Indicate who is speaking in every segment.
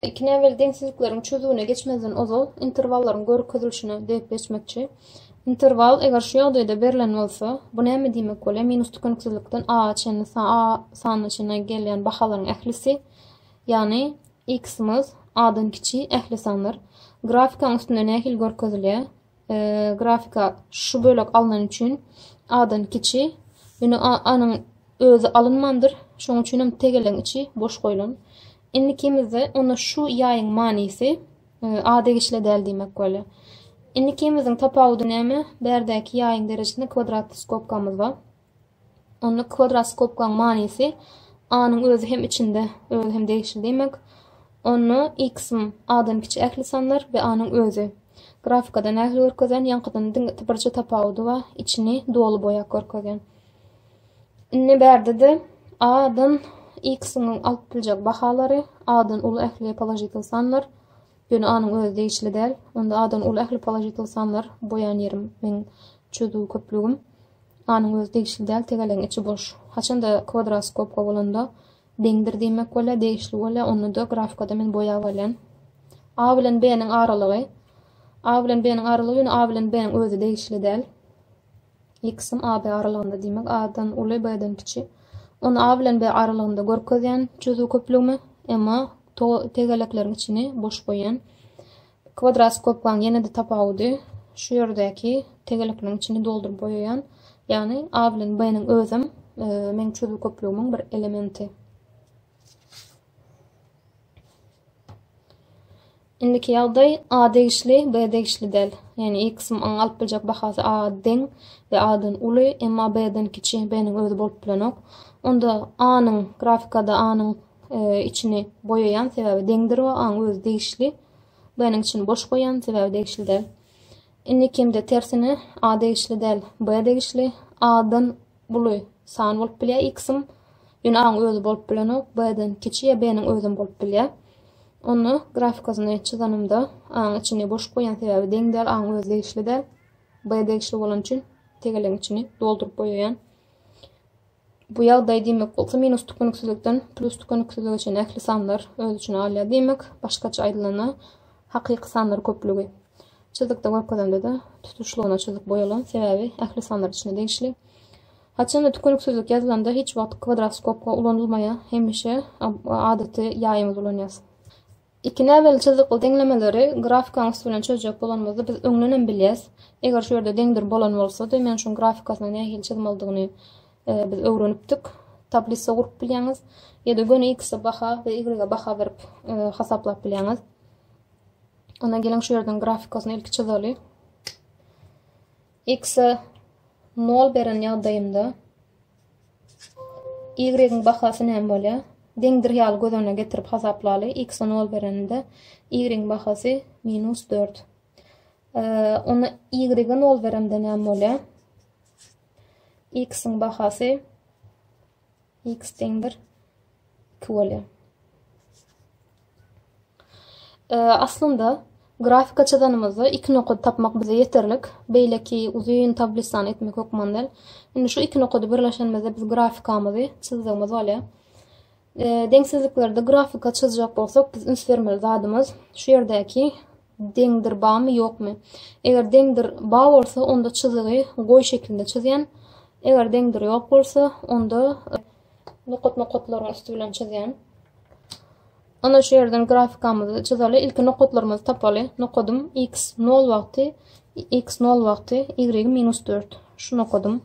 Speaker 1: Iki näbelli deňsizlikleriň çözüwine geçmezden ozal interwallaryň görkezilişine degip geçmekçi. Interwal eger şu ýagdaýda berlen bolsa, bu näme diýmek bolýar? Minus tükeniksizlikden a-a çenli a sanyna çenli gelýän bahalaryň ählisi, ýagny x-myz a-dan kiçi ähli sanlar. Grafikaň üstünde nähili görkezilýär? grafika şu bölek alnan üçin adan kiçi ýöne anyň özi alynmandyr şoň üçin hem tegeleň içi boş goýlan indi kimizde onda şu ýaýyň manysy a degişli däl diýmek bolýar indi kimiziň tapawudy näme bärdäki ýaýyň derejesinde kwadrat skobkamyz bar Onda kwadroskopkaň manysy A-nyň özi hem içinde, özi hem degişli diýmek. Onda X-m A-dan kiçi ähli sanlar we A-nyň özi. Grafikada nähili görkezýän, ýaňkydan diňe birje tapawudy bar, içini doly boýap görkezýän. Indi bärde-de A-dan X-iň alyp biljek bahalary, A-dan uly ähli položitel sanlar, ýöne A-nyň özi degişli däl. Onda A-dan uly ähli položitel sanlar, boýan ýerim meň çözüw köplügim. Anyň özi degişli däl, tegelegiň içi boş. Haçanda kwadroskopka bolanda, deňdir diýmek bolýar, degişli bolýar, onda-da grafkada men boýap alýan. A bilen B-niň aralygy. A bilen B-niň aralygy, ýöne A bilen B-niň özi degişli däl. X-im AB aralygynda diýmek, A-dan uly, B-den kiçi. Ony A bilen B aralygynda görkezýän çözüw köplügimi, emma tegelekleriň içini boş goýýan. Kwadrat skobkaň ýene-de tapawudy şu ýerdäki tegelekiniň içini dolduryp boýaýan, ýagny A bilen B-niň özem meň çözgü köplügimiň bir elementi. Indiki ýagdaý A degişli, B degişli däl. Ýagny Y kysymyň alyp biljek bahasy A deň we A-dan uly, emma B-den kiçi, B-niň özi bolup bilenok. Onda A-nyň grafikada A-nyň içini boýaýan sebäbi deňdir we aň özi degişli b-niň içini boş goýan sebäbi degişli däl indi kimde tersine a degişli däl b degişli a-dan uly san bolup bilýär x-im ýöne aň özi bolup bilenok b-den kiçi ýa b-niň özem bolup bilýär onda grafikasyny çyzanymda aň içini boş goýan sebäbi deň däl aň özi degişli däl b degişli bolan üçin tegelegiň içini dolduryp goýaýan Bu ýagdaý diýmek bolsa minus tükeniksizlikden plus tükeniksizlige çenli ähli sanlar öz içine alýar diýmek. Başgaça aýdylanda, hakyky sanlar köplügi. Çyzykda görkezende-de tutuşlygyna çyzyk boýalan, sebäbi ähli sanlar içine degişli. Haçanda tükeniksizlik ýazylanda hiç wagt kwadroskopga ulanylmaýar, hemişe adaty ýaýymyzy ulanýarys. Iki näbelli çyzykly deňlemeleri grafikaň üsti bilen çözjek bolanymyzda biz öňdenem bilýäs. Eger şu ýerde deňdir bolan bolsady, men şuň grafikasyny nähili çyzmalydygyny biz öwrenipdik. Tablisa gurup bilýäňiz. Ýa-da göni x-e baha we y-e baha berip hasaplap bilýäňiz. Onda geliň şu yerden grafikasyny ilki çizaly. X-e 0 beren ýagdaýynda Y-iň bahasy näme bolýar? Deňdir ýaly göz öňüne getirip hasaplaly. X-a nol berenimde Y-iň bahasy minus dört. Onda Y-e nol beremde näme bolýar? X-iň bahasy X deňdir 2 bolýar. Aslynda, grafika çyzanymyzda iki nokady tapmak bize ýeterlik. Beýleki uzyn tablissany etmek hökman däl. Indi şu iki nokady birleşenimizde biz grafikamyzy çyzdygymyz bolýar. Deňsizliklerde grafika çyzjak bolsak, biz üns bermeli zadymyz şu ýerdäki deňdir bamy ýokmy? Eger deňdir ba bolsa, onda çyzygy goý şeklinde çyzýan. Eger deňdir ýok bolsa, onda Nokat nokatlaryň üsti bilen çyzýan. Ana şu ýerden grafikamyzy çyzaly. Ilki nokatlarymyzy tapaly. Nokadym x 0 wagty, x 0 wagty, y minus 4. Şu nokadym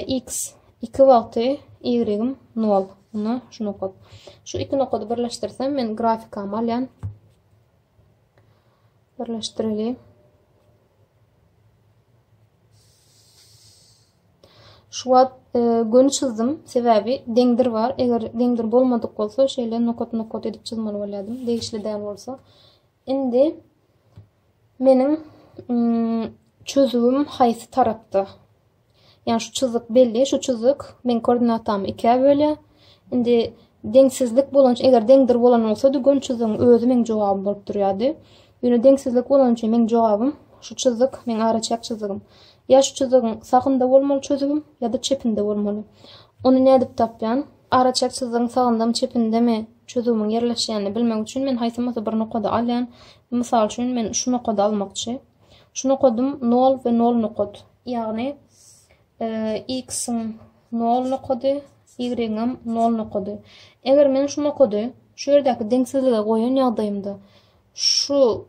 Speaker 1: x 2 wagty, y 0. Buna şu nokat. Şu iki nokady birleşdirsem men grafikamy alýan. Birleşdireli. Şu wagt göni çyzdym, sebäbi deňdir bar, eger deňdir bolmadyk bolsa şeýle nokat-nokat edip çyzmaly bolýardym, degişli däl bolsa. Indi meniň çözüwim haýsy tarapda? Ýani şu çyzyk belli, şu çyzyk meň koordinatamy ikä bölýär. Indi deňsizlik bolan, eger deňdir bolan bolsady göni çyzygyň özi meň jogabym bolup durýardy. Ýöne deňsizlik bolany üçin meň jogabym, şu çyzyk, meň araçäk çyzygym. Ýa şu çyzygyň sagynda bolmaly çözübim, ýa-da çepinde bolmaly. Ony nädip tapýan? Araçäk çyzygyň sagyndamy, çepindemi çözübimiň ýerleşýänini bilmek üçin men haýsymyzy bir nokady alýan. Mysal üçin, men şu nokady almakçy. Şu nokadym nol we nol nokat. Ýagny, x-iň nol nokady, y-iňem nol nokady. Eger men şu nokady şu ýerdäki deňsizlige goýan ýagdaýymda, Şu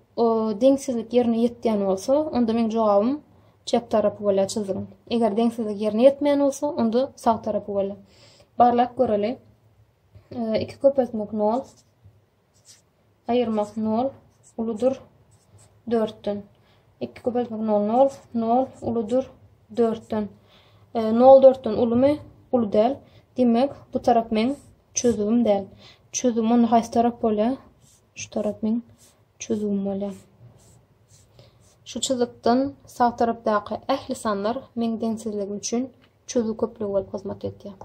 Speaker 1: deňsizlik ýerine ýetýän bolsa, onda meň jogabym çep tarapy bolýar çyzdygyň. Eger deňsizlik ýerine ýetmeýän bolsa, onda sag tarapy bolýar. Barlap göreli. Iki köpeltmek nol. Aýyrmak nol. Uludyr dörtden. Iki köpeltmek nol nol. Nol uludyr dörtden. Nol dörtden ulumy? Ulu däl. Demek, bu tarap meň çözümim däl. Çözüm onda haýsy tarap bolýar? Şu tarap meň çözgüm bolýar. Şu çyzykdan sag tarapdaky ähli sanlar meň deňsizligim üçin çözgü köplügi bolup hyzmat edýär.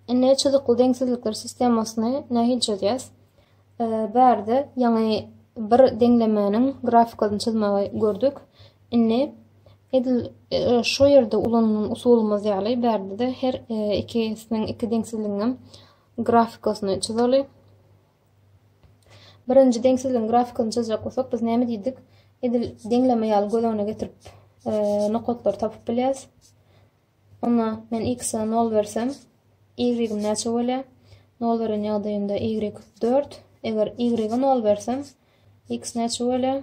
Speaker 1: Indi çyzykly deňsizlikler sistemasyny nähili çözýäs? Bärde ýaňy bir deňlemäniň grafikasyny çyzmagy gördük. Indi edil e, şu ýerde ulanylan usulymyz ýaly bärde-de her e, ikisiniň iki deňsizliginiň grafikasyny çyzaly. Birinji deňsizligiň grafikasyny çyzjak bolsak, biz näme diýdik? Edil deňleme ýaly göz öňüne getirip, e, nokatlary tapyp bilýäs. Onda men x-e 0 bersem, y-im näçe bolýar? 0 beren ýagdaýymda y 4. Eger y-e 0 bersem, x näçe bolýar?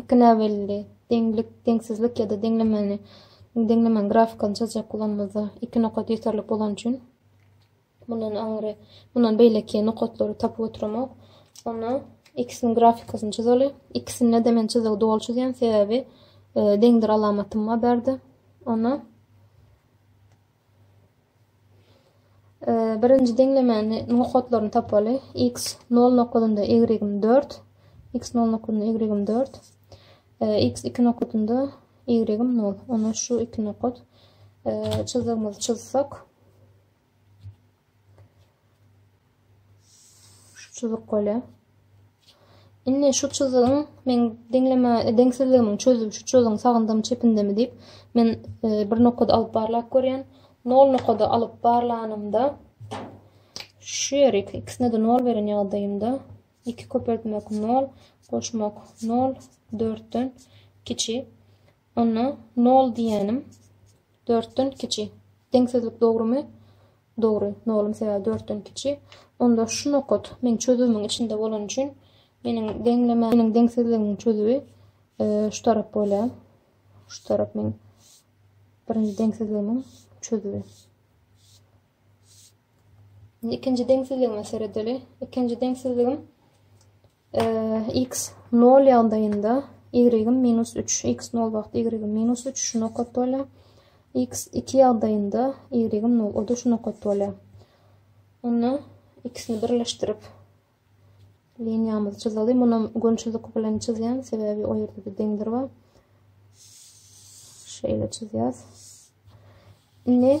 Speaker 1: Iki näbelli deňlik, deňsizlik ýa-da deňlemeni, deňlemäň grafikasyny çyzjak bolanymyzda iki nokat ýeterlik bolany üçin mundan aňry, mundan beýleki nokatlary tapyp oturamok. Onda ikisiniň grafikasyny çyzaly. Ikisinde de men çyzygy doly çyzýan, sebäbi e, deňdir alamatyma berdi. Onda Birinji deňlemäni nokatlaryny tapaly. X nol nokadynda y-im dört. X nol nokadynda y-im dört. X iki nokadynda y-im nol. Onda şu iki nokat çyzygymyzy çyzsak. Şu çyzyk bolýa. Indi şu çyzygyň men deňleme deňsizligimiň çözüp şu çyzygyň sagyndamy çepindemi diýip men e, bir nokada alyp barlap görýän. Nol nokada alyp barlanymda şu ýeri ikisine de nol beren ýagdaýymda 2 köpeltmek 0, goşmak 0, 4-den kiçi. Onda nol diýýänim dörtden kiçi. Deňsizlik dogrumy? Dogry. Nolum sebäbi dörtden kiçi. Onda şu nokat meniň çözüwimiň içinde bolany üçin meniň deňleme, meniň deňsizligimiň çözüwi e, şu tarap bolýar. Şu tarap meniň birinji deňsizligimiň çözüwi. Şimdi ikinci deňsizligime seredeli. İkinci deňsizligim X nol ýagdaýynda y-yň minus üç, x nol wagt y-yň minus üç şu nokat bolýar. X iki ýagdaýynda y-yň nol, o-da şu nokat bolýar. Onda ikisini birleşdirip liniýamyzy çyzaly. Muny gönçülik bilen çyzýan, sebäbi o ýerde-de deňdir bar. Şeýle çyzýas. Indi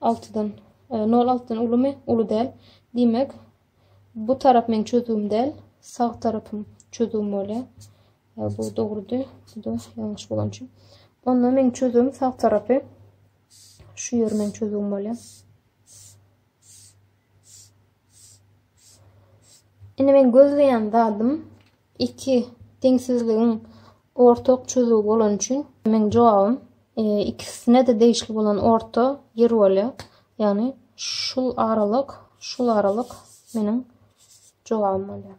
Speaker 1: Altydan. Nol altydan ulumy? Uly däl. Diýmek, bu tarap meň çözgüm däl. Sag tarapym çözgüm bolýar. Bu dogrudy. Bu-da ýalňyş bolan üçin. Onda meň çözgüm sag tarapy. Şu ýer meň çözgüm bolýar. Indi men gözleýän zadym Iki deňsizligiň ortak çözüwi bolany üçin meň jogabym ikisine-de degişli bolan orta ýer bolýar. Ýagny şul aralyk, şul aralyk meniň jogabym bolýar.